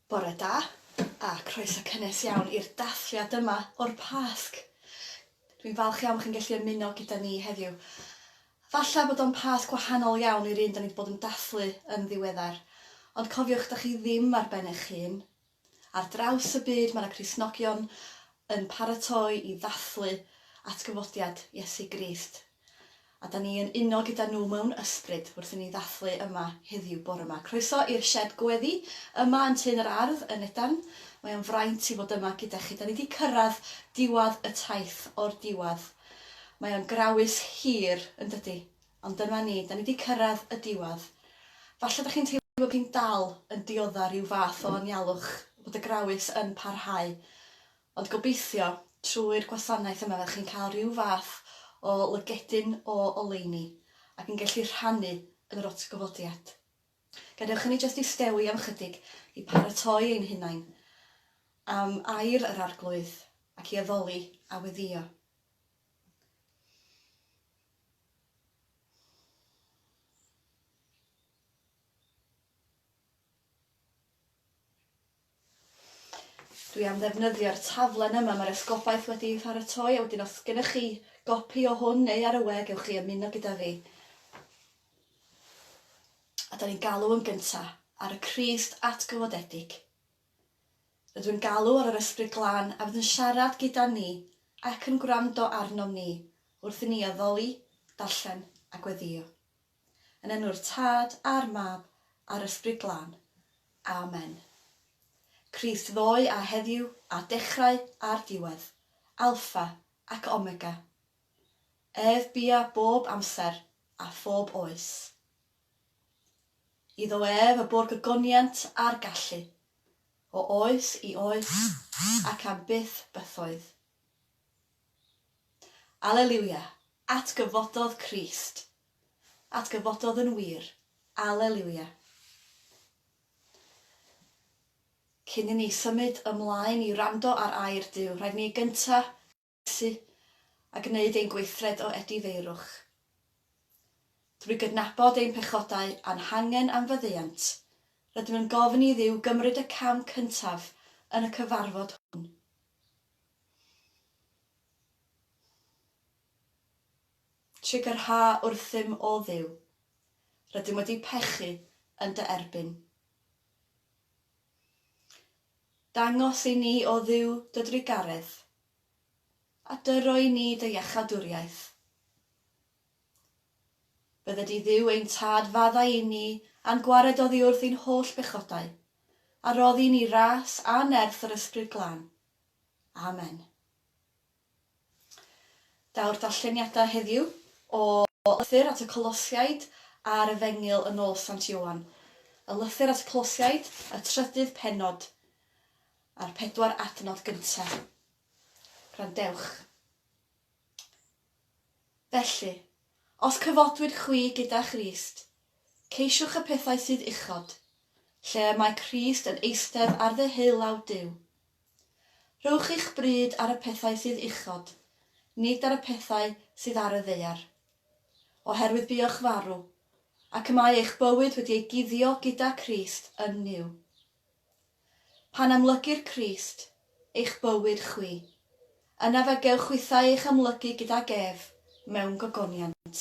Bore da, a croeso cynnes iawn i'r dathliad yma o'r Pasg. Dwi'n falch iawn bod chi'n gallu ymuno gyda ni heddiw. Falle bod o'n Pasg wahanol iawn i'r un da ni wedi bod yn dathlu yn ddiweddar, ond cofiwch, da chi ddim ar ben eich hun, Ar draws y byd mae 'na Gristnogion yn paratoi i ddathlu atgyfodiad Iesu Grist, a 'da ni yn uno gyda nhw mewn ysbryd wrth i ni ddathlu yma heddiw bore 'ma. Croeso i'r sied gweddi yma yn Tŷ'n yr Ardd yn Nedarn. Mae o'n fraint i fod yma gyda chi. 'Da ni 'di cyrraedd diwadd y taith o'r diwadd. Mae o'n grawys hir, yn dydi? Ond dyma ni, 'da ni 'di cyrraedd y diwedd. Falle dych chi'n teimlo bod chi'n dal yn dioddef rhyw fath o anialwch, bod y grawys yn parhau. Ond gobeithio, trwy'r gwasanaeth yma fyddech chi'n cael rhyw fath o lygedyn o oleuni ac yn gallu rhannu yn yr atgyfodiad. Gadewch i ni jyst istewi am ychydig i paratoi ein hunain am air yr Arglwydd ac i addoli a weddïo. Dwi am ddefnyddio'r taflen yma mae'r esgobaeth wedi ei pharatoi a wedyn os gennych chi gopi o hwn neu ar y we gewch chi ymuno gyda fi. A da ni'n galw yn gynta ar y Crist atgyfodedig. Rydw yn galw ar yr Ysbryd Glân a fydd yn siarad gyda ni ac yn gwrando arnom ni wrth i ni addoli, darllen a gweddïo. Yn enw'r Tad, a'r Mab, a'r Ysbryd Glân. Amen. Crist ddoe a heddiw a dechrau a'r diwedd. Alffa ac Omega. Ef bia bob amser a phob oes. Iddo ef y bu'r gogoniant a'r gallu, o oes i oes, ac am byth bythoedd. Aleliwia! Atgyfododd Crist! Atgyfododd yn wir! Aleliwia! Cyn i ni symud ymlaen i wrando ar air Duw, rhaid i ni gynta' Tŷ a gwneud ein gweithred o edifeirwch. Drwy gydnabod ein pechodau a'n hangen am faddeuant, rydym yn gofyn i Dduw gymryd y cam cyntaf yn y cyfarfod hwn. Trigyrha wrthym, O Dduw. Rydym wedi pechu yn dy erbyn. Dangos i ni, O Dduw, dy drugaredd, A dy roi ni dy iachadwriaeth. Bydde di Dduw ein Tad faddau inni a'n gwared oddiwrth i'n holl bechodau, a roddi ni ras a nerth yr Ysbryd Glân. Amen. Daw'r darlleniadau heddiw o Lythyr at y Colosiaid a'r Efengyl yn ôl Sant Ioan. Y Lythyr at y Colosiaid, y trydydd pennod. a'r pedwar adnod gyntaf. Gwrandewch. Felly, os cyfodwyd chwi gyda Christ, ceisiwch y pethau sydd uchod, lle y mae Crist yn eistedd ar ddeheulaw Duw. Rhowch eich bryd ar y pethau sydd uchod, nid ar y pethau sydd ar y ddaear. Oherwydd buoch farw, ac y mae eich bywyd wedi ei guddio gyda Crist yn Nuw. Pan amlygir Crist, eich bywyd chwi, yna fe gewch chwithau eich amlygu gydag ef mewn gogoniant.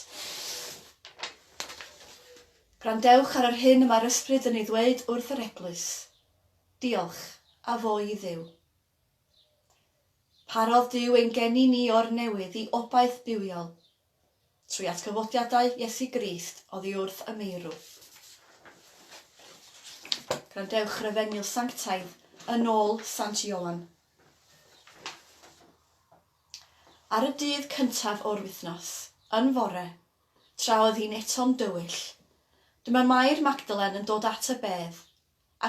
Gwrandewch ar yr hyn y mae'r Ysbryd yn ei ddweud wrth yr Eglwys. Diolch, a fo i Dduw. Parodd Duw ein geni ni o'r newydd i obaith bywiol, Trwy atgyfodiadau Iesu Grist oddi wrth y meirw. Gwrandewch refeniw sanctaidd yn ôl Sant Ioan. Ar y dydd cyntaf o'r wythnos, yn fore, tra oedd hi'n eto'n dywyll, dyma Mair Magdalen yn dod at y bedd,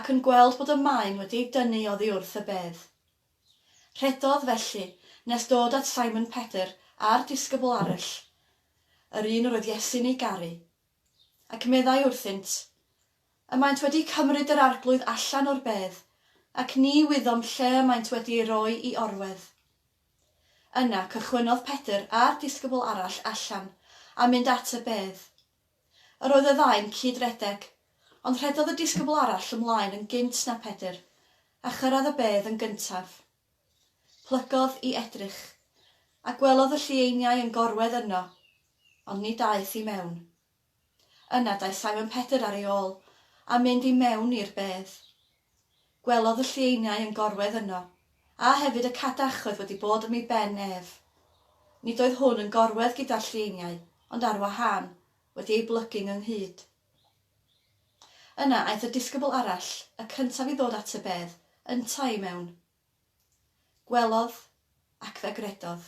ac yn gweld bod y maen wedi ei dynnu oddi wrth y bedd. Rhedodd felly, nes dod at Simon Pedr a'r disgybl arall, yr un yr oedd Iesu'n ei garu, ac meddai wrthynt, Y maent wedi cymryd yr Arglwydd allan o'r bedd, ac ni wyddom lle y maent wedi ei roi i orwedd. Yna cychwynnodd Pedr a'r disgybl arall allan a mynd at y bedd. Yr oedd y ddau'n cyd-redeg, ond rhedodd y disgybl arall ymlaen yn gynt na Pedr, a chyrraedd y bedd yn gyntaf. Plygodd i edrych, a gwelodd y llieiniau yn gorwedd yno, ond ni daeth i mewn. Yna daeth Simon Pedr ar ei ôl, a mynd i mewn i'r bedd. Gwelodd y llieiniau yn gorwedd yno, a hefyd y cadach oedd wedi bod ym mhen ef. Nid oedd hwn yn gorwedd gyda'r llieiniau, ond ar wahân, wedi eu blygu ngynghyd. Yna aeth y disgybl arall, y cyntaf i ddod at y bedd, yntau i mewn. Gwelodd, ac fe gredodd.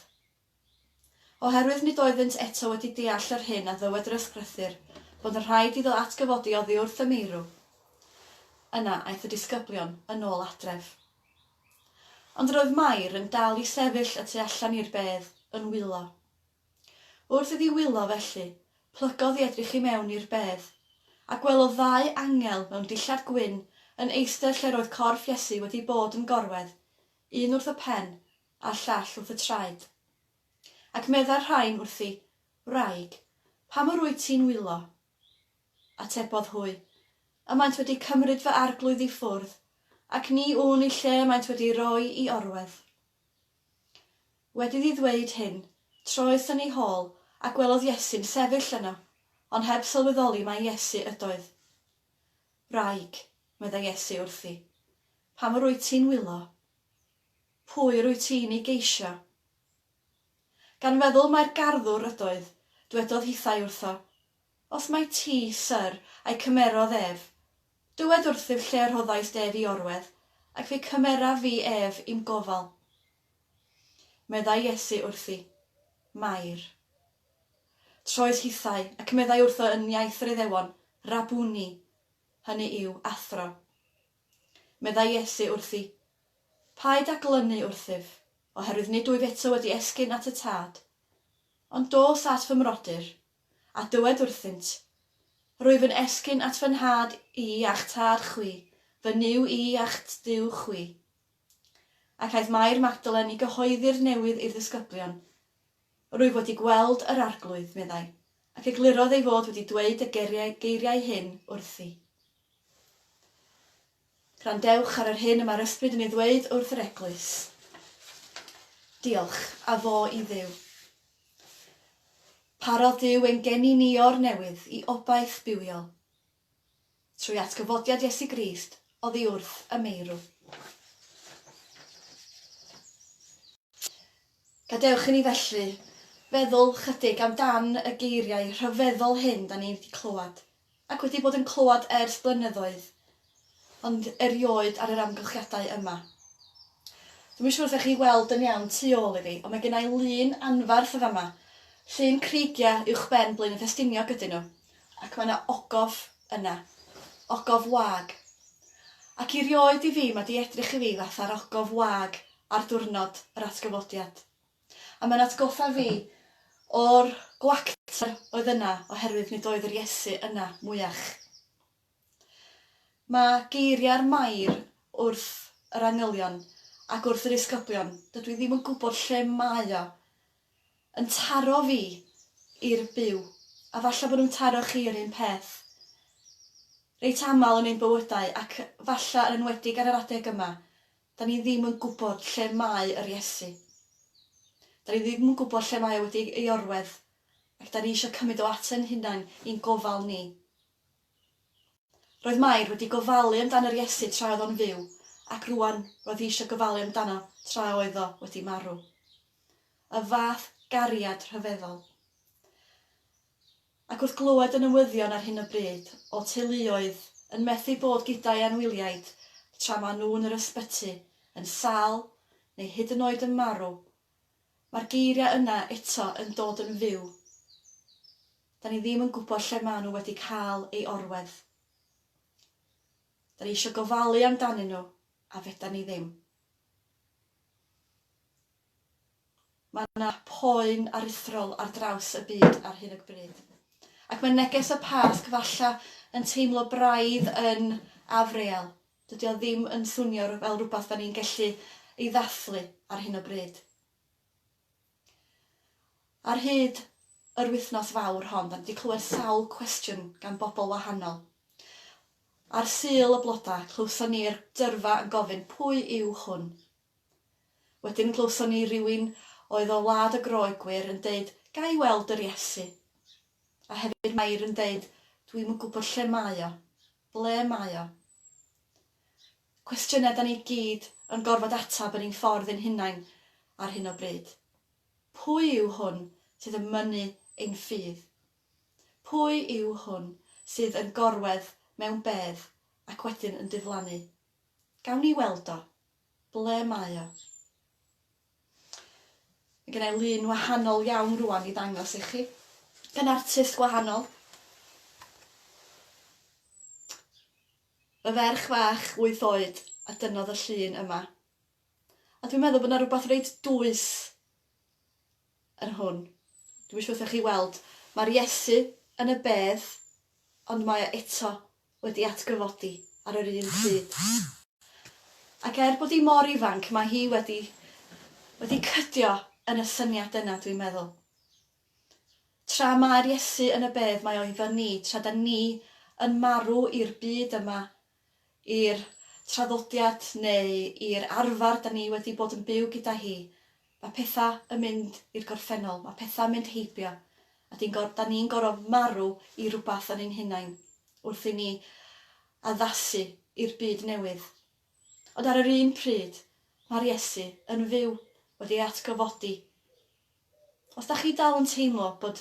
Oherwydd nid oeddynt eto wedi deall yr hyn a ddywed yr Ysgrythur, bod yn rhaid iddo atgyfodi oddi wrth y meirw. Yna aeth y disgyblion yn ôl adref. Ond yr oedd Mair yn dal i sefyll y tu allan i'r bedd, yn wylo. Wrth iddi wylo felly, plygodd i edrych i mewn i'r bedd, a gwelodd ddau angel mewn dillad gwyn yn eistedd lle'r oedd corff Iesu wedi bod yn gorwedd, un wrth y pen, a'r llall wrth y traed. Ac meddai'r rhain wrthi, Wraig, pam yr wyt ti'n wylo? Atebodd hwy, Y maent wedi cymryd fy arglwydd i ffwrdd, ac ni wn i lle y maent wedi'i roi i orwedd. Wedi iddi ddweud hyn, troes yn ei hôl a gwelodd Iesu'n sefyll yno, ond heb sylweddoli mai Iesu ydoedd. Wraig, meddai Iesu wrthi, pam yr wyt ti'n wylo? Pwy yr wyt ti'n ei geisio? Gan feddwl mai'r garddwr ydoedd, dwedodd hithau wrtho, Os mai ti, Syr, a'i cymerodd ef, dywed wrthyf lle y rhoddaist ef i orwedd, ac fe cymeraf fi ef i'm gofal. Meddai Iesu wrthi, Mair. Troes hithau, ac meddai wrtho yn iaith yr Iddewon, Rabuni, hynny yw, Athro. Meddai Iesu wrthi, Paid â glynu wrthyf, oherwydd nid wyf eto wedi esgyn at y Tad. Ond dos at fy mrodyr, a dywed wrthynt, Rwyf yn esgyn at fy nhad i a'ch tad chwi, fy Nuw i a'ch Duw chwi. Ac aeth Mair Magdalen i gyhoeddi'r newydd i'r ddisgyblion. Rwyf wedi gweld yr Arglwydd, meddai, ac eglurodd ei fod wedi dweud y geiriau hyn wrthi. Gwrandewch ar yr hyn y mae'r Ysbryd yn ei ddweud wrth yr Eglwys. Diolch, a fo i Dduw. Parodd Duw ein geni ni o'r newydd i obaith bywiol. Trwy atgyfodiad Iesu Grist oddi wrth y meirw. Gadewch i ni felly feddwl chydig am dan y geiriau rhyfeddol hyn da ni wedi clywed. ac wedi bod yn clywed ers blynyddoedd, ond erioed ar yr amgylchiadau yma. Dwi'm yn siŵr os 'da chi'n weld yn iawn tu ôl i fi, ond mae gennai lun anferth yn fama. Llun creigiau uwchben Blaenau Ffestiniog ydyn nhw, ac mae 'na ogof yna. Ogof wag. Ac erioed i fi, mae 'di edrych i fi fatha'r ogof wag ar diwrnod yr atgyfodiad. A mae'n atgoffa fi o'r gwacter oedd yna oherwydd nid oedd yr Iesu yna mwyach. Mae geiriau'r Mair wrth yr angylion ac wrth yr isgobion, dydw i ddim yn gwybod lle mae o, yn taro fi i'r byw, a falle bod nhw'n taro chi yr un peth, reit aml yn ein bywydau, ac falle yn enwedig ar yr adeg yma, Dan ni ddim yn gwybod lle mae yr Iesu. Dan ni ddim yn gwybod lle mae o wedi ei ei orwedd, ac dan ni eisiau cymryd o at ein hunain i'n gofal ni. Roedd Mair wedi gofalu amdan yr Iesu tra oedd o'n fyw, ac rŵan roedd hi eisiau gofalu amdano tra oedd o wedi marw. Y fath gariad rhyfeddol. Ac wrth glywed y newyddion ar hyn o bryd o teuluoedd yn methu bod gyda'u anwyliaid tra maen nhw yn yr ysbyty, yn sâl, neu hyd yn oed yn marw, mae'r geiriau yna eto yn dod yn fyw, 'Da ni ddim yn gwybod lle maen nhw wedi cael ei orwedd. Da ni eisiau gofalu amdanyn nhw, a fedan ni ddim. Mae yna poen aruthrol ar draws y byd ar hyn o bryd. Ac mae neges y Pasg falle yn teimlo braidd yn afreal, dydy o ddim yn swnio fel rhywbeth da ni'n gallu ei ddathlu ar hyn o bryd. Ar hyd yr wythnos fawr hon, dan ni wedi clywed sawl cwestiwn gan bobl wahanol. Ar Sul y Blodau, clywson ni'r dyrfa yn gofyn 'pwy yw hwn? Wedyn glywson ni rywun oedd o wlad y Groegwyr yn deud 'ga i weld yr Iesu? A hefyd Mair yn deud 'dwi'm yn gwybod lle mae o, ble mae o? Cwestiynau 'dan ni gyd yn gorfod ateb yn ein ffordd ein hunain ar hyn o bryd. Pwy yw hwn sydd yn mynnu ein ffydd? Pwy yw hwn sydd yn gorwedd mewn bedd ac wedyn yn diflannu? Gawn ni weld o? Ble mae o? Mae gen i lun wahanol iawn rwan i ddangos i chi, gan artist gwahanol. Y ferch fach wyth oed a dynnodd y llun yma. A dwi'n meddwl bod 'na rywbeth reit dwys yn hwn. Dwi'm isio wrthych chi weld. Mae'r Iesu yn y bedd, ond mae o eto wedi atgyfodi ar yr un pryd. Ac er bod hi mor ifanc, mae hi wedi wedi cydio yn y syniad yna, dwi'n meddwl. Tra mae'r Iesu yn y bedd mae o iddo ni, tra da ni yn marw i'r byd yma, i'r traddodiad neu i'r arfer da ni wedi bod yn byw gyda hi, mae petha yn mynd i'r gorffennol, mae petha yn mynd heibio, a di'n gor, da ni'n goro marw i rwbath yn ein hunain, wrth i ni addasu i'r byd newydd. Ond ar yr un pryd, mae'r Iesu yn fyw, wedi ei atgyfodi, Os dach chi dal yn teimlo bod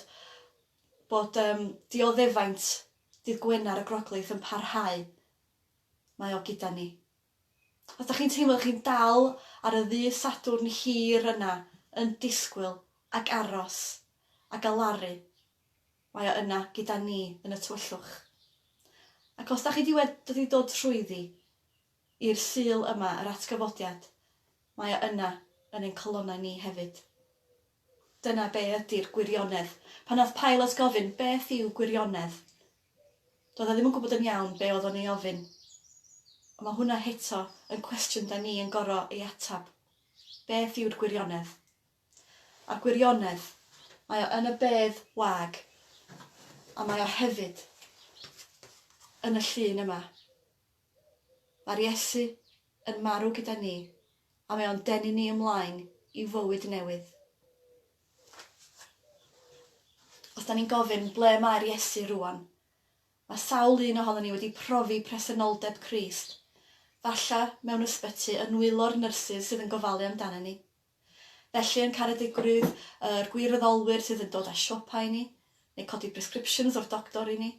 bod yym dioddefaint dydd Gwener y Groglith yn parhau, mae o gyda ni. Os dach chi'n teimlo chi'n dal ar y ddydd Sadwrn hir yna yn disgwyl ac aros a galaru, mae o yna gyda ni yn y tywyllwch. Ac os dach chi 'di wed- wedi dod trwyddi, I'r Sul yma, yr atgyfodiad, mae o yna, yn ein calonnau ni hefyd. Dyna be ydi'r gwirionedd. Pan nath Pilate gofyn, Beth yw gwirionedd? Doedd o ddim yn gwybod yn iawn be oedd o'n ei ofyn. Ond mae hwnna heto yn cwestiwn da ni yn goro ei atab. Beth yw'r gwirionedd? A'r gwirionedd, mae o yn y bedd wag, a mae o hefyd yn y llun yma. Mae'r Iesu yn marw gyda ni a mae o'n denu ni ymlaen i fywyd newydd. Os da ni'n gofyn ble mae'r Iesu rŵan, mae sawl un ohono ni wedi profi presenoldeb Crist, falle mewn ysbyty yn nwylo'r nyrsys sydd yn gofalu amdana ni. Felly yn Caredigrwydd yr gwirfoddolwyr sydd yn dod â siopa i ni, neu codi prescriptions o'r doctor i ni.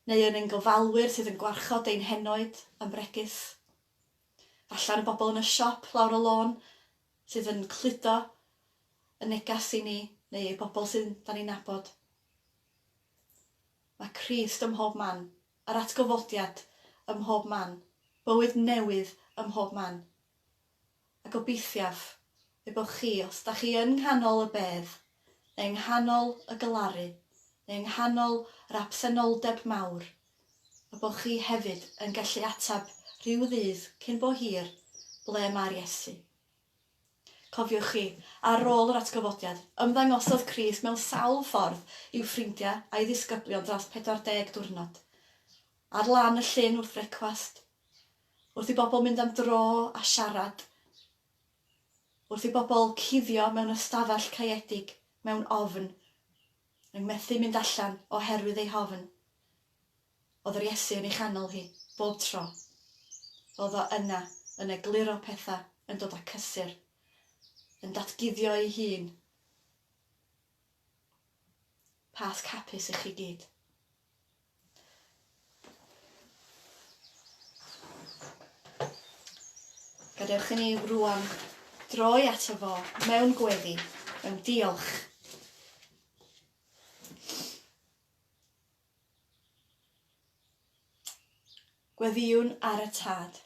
neu yn ein gofalwyr sydd yn gwarchod ein henoed a'n bregys. Falle ar y bobl yn y siop lawr y lôn sydd yn cludo y neges i ni, neu y bobl sydd 'da ni'n nabod. Mae Crist ym mhob man, yr atgyfodiad ym mhob man, bywyd newydd ym mhob man. a gobeithiaf y bod chi, os da chi yn nghanol y bedd, neu yng nghanol y galaru, neu yng nghanol yr absenoldeb mawr, y bod chi hefyd yn gallu ateb rhyw ddydd cyn bo hir, Ble mae'r Iesu? Cofiwch chi, ar ôl yr atgyfodiad, ymddangosodd Crist mewn sawl ffordd i'w ffrindiau a'i ddisgyblion dros 40 diwrnod. Ar lan y llyn wrth frecwast, Wrth i bobl mynd am dro a siarad. Wrth i bobl cuddio mewn ystafell caeedig mewn ofn, yn methu mynd allan oherwydd ei hofn. O'dd yr Iesu yn ei chanol hi, bob tro. O'dd o yna, yn egluro petha, yn dod â cysur, yn datguddio ei hun. Pasg hapus i chi gyd. Gadewch i ni rwan droi ato fo mewn gweddi, mewn diolch. Gweddiwn ar y tad.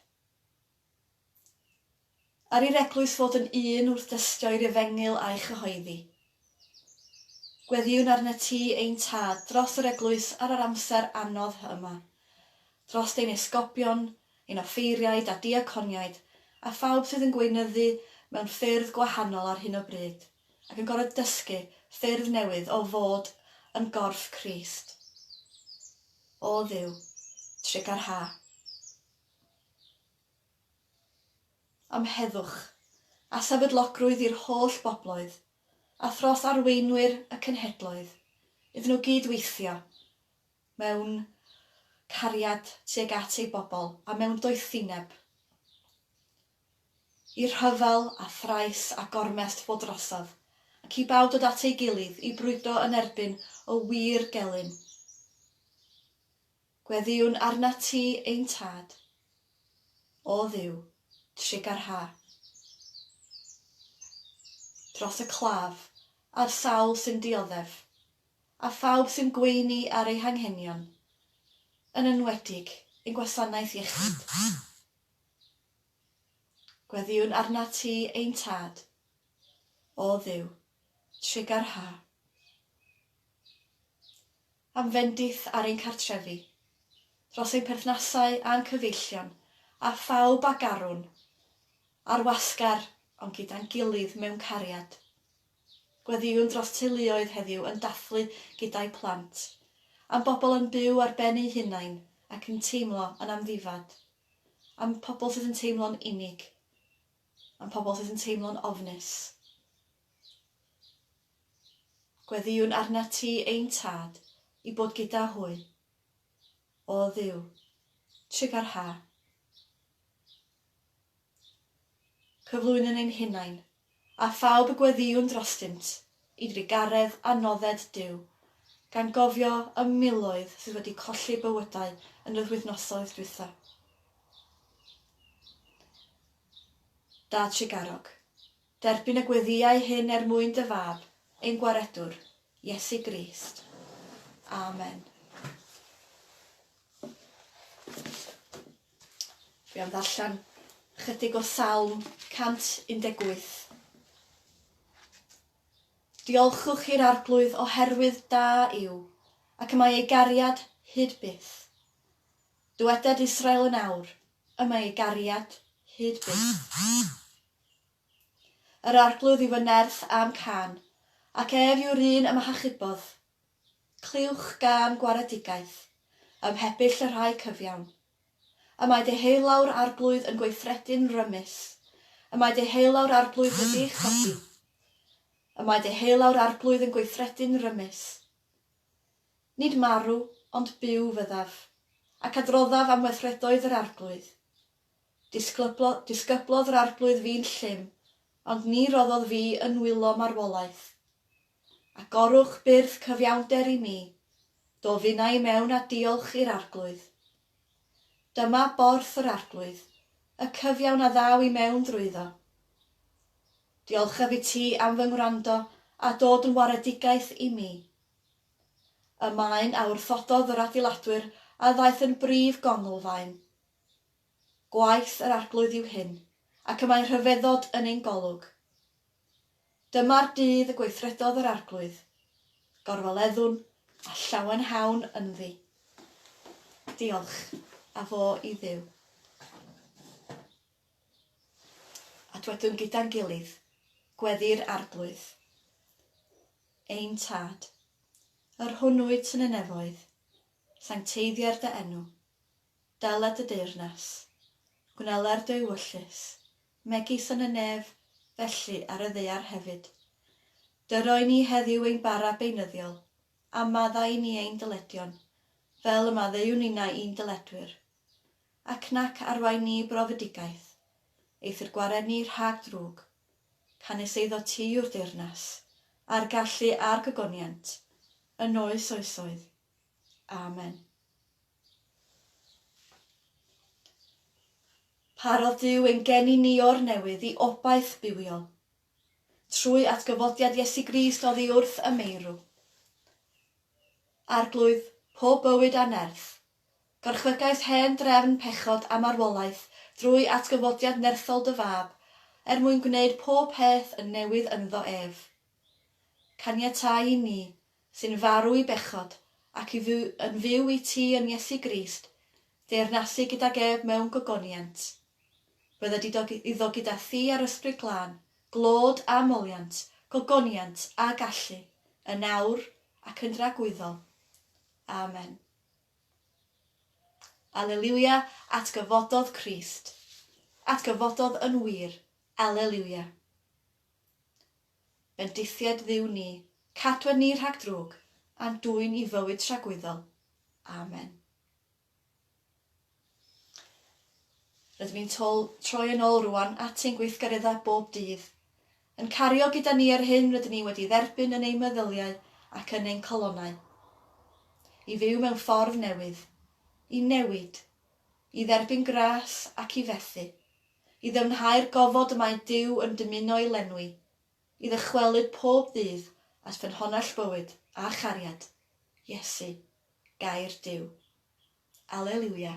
Ar i'r eglwys fod yn un wrth dystio i'r efengyl a'i chyhoeddi. Gweddïwn arnat ti, ein Tad, dros yr eglwys ar yr amser anodd hy yma, drost ein esgobion, ein offeiriaid a diaconiaid, a phawb sydd yn gweinyddu mewn ffyrdd gwahanol ar hyn o bryd, ac yn gorfod dysgu ffyrdd newydd o fod yn gorff Crist. O Dduw, trigarha. am heddwch a sefydlogrwydd i'r holl bobloedd a thros arweinwyr y cenhedloedd iddyn nhw gyd-weithio mewn cariad tuag at ei bobl a mewn doethineb i rhyfel a thrais a gormest fod drosodd, ac i bawb dod at ei gilydd i brwydro yn erbyn y wir gelyn. Gweddïwn arnat ti, ein Tad, o Dduw, trugarhau dros y claf a'r sawl sy'n dioddef, a phawb sy'n gweini ar eu hanghenion, yn enwedig ein gwasanaeth iechyd. Gweddïwn arnat ti, ein Tad, o Dduw, trugarhau Am fendith ar ein cartrefi, dros ein perthnasau a'n cyfeillion, a phawb a garwn, ar wasgar ond gyda'n gilydd mewn cariad. Gweddïwn dros teuluoedd heddiw yn dathlu gyda'u plant, am bobl yn byw ar ben eu hunain ac yn teimlo yn amddifad, am pobl sydd yn teimlo'n unig, am pobl sydd yn teimlo'n ofnus. Gweddïwn arnat ti, ein Tad, i bod gyda hwy. O Dduw, trigâr ha. Cyflwynwn ein hunain, a phawb y gweddïwn drostynt, i drugaredd anodded Duw, gan gofio y miloedd sydd wedi colli bywydau yn yr wythnosoedd dwytha. Dad trugarog. Derbyn y gweddïau hyn er mwyn dy Fab, ein Gwaredwr, Iesu Grist. Amen. Fi am ddarllen chydig o Salm 118. Diolchwch i'r arglwydd oherwydd da yw, ac y mae ei gariad hyd byth. Dyweded Israel yn awr, y mae ei gariad hyd byth. Yr Arglwydd yw fy nerth a'm cân, ac ef yw'r un y m'ahachubodd. Clywch gân gwaredigaeth, ym mhebyll y rhai cyfiawn. Y mae deheulaw'r Arglwydd yn gweithredu'n rymus, y mae deheulaw'r Arglwydd wedi'i chodi. Y mae deheulaw'r Arglwydd yn gweithredu'n rymus. Nid marw, ond byw fyddaf, ac adroddaf am weithredoedd yr Arglwydd. Disgyblodd yr Arglwydd fi'n llym, ond ni roddodd fi yn nwylo marwolaeth. Agorwch byrth cyfiawnder i mi, do finna i mewn a diolch i'r Arglwydd. Dyma borth yr Arglwydd, y cyfiawn a ddaw i mewn drwyddo. Diolchaf i ti am fy ngwrando a dod yn waredigaeth i mi. Y maen a wrthododd yr adeiladwyr a ddaeth yn brif gonglfaen. Gwaith yr Arglwydd yw hyn, ac y mae rhyfeddod yn ein golwg. Dyma'r dydd y gweithredodd yr Arglwydd, gorfoleddwn a llawenhawn ynddi. Diolch a fo i Dduw. A dwedwn gyda'n gilydd, Gweddi'r Arglwydd, ein Tad, yr hwn wyt yn y nefoedd, sancteiddier dy enw, Dela dy deyrnas, gwnela'r dy ewyllys, megis yn y nef, felly ar y ddaear hefyd. Dy roi ni heddiw ein bara beunyddiol, a maddau i ni ein dyledion, fel y maddeu ninnau i'n dyledwyr. Ac nac arwain ni i brofedigaeth, eithr gwared ni rhag drwg, canys eiddo ti yw'r deyrnas, a'r gallu a'r gogoniant, yn oes oesoedd. Amen. Parodd Duw ein geni ni o'r newydd i obaith bywiol. Trwy atgyfodiad Iesu Grist oddi wrth y meirw. Arglwydd pob bywyd a nerth, gorchfygais hen drefn pechod a marwolaeth drwy atgyfodiad nerthol dy Fab, er mwyn gwneud pob peth yn newydd ynddo ef. Caniatáu i ni sy'n farw i bechod, ac i fyw yn fyw i ti yn Iesu Grist, deyrnasu gydag ef mewn gogoniant. Bydda di dog iddo gyda thi a'r Ysbryd Glân, glod a moliant, gogoniant a gallu, yn awr ac yn dragwyddol. Amen. Aleliwia, atgyfododd Crist. Atgyfododd yn wir. Aleliwia. Bendithiaid Dduw ni, cadwa ni rhag drwg, a'n dwyn i fywyd tragwyddol. Amen. Rydym ni'n tol, troi yn ôl rwan at ein gweithgareddau bob dydd, yn cario gyda ni yr hyn rydyn ni wedi dderbyn yn ein meddyliau ac yn ein calonau. I fyw mewn ffordd newydd, i newid, i dderbyn gras ac i fethu, i ddyfnhau'r gofod y mae Duw yn dymuno'i lenwi, i ddychwelyd pob ddydd at ffynhonnell bywyd a chariad, Iesu, Gair Duw. Aleliwia.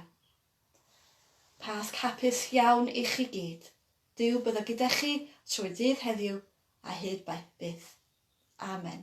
Pasg hapus iawn i chi gyd. Duw byddo gyda chi trwy ddydd heddiw a hyd baith byth. Amen.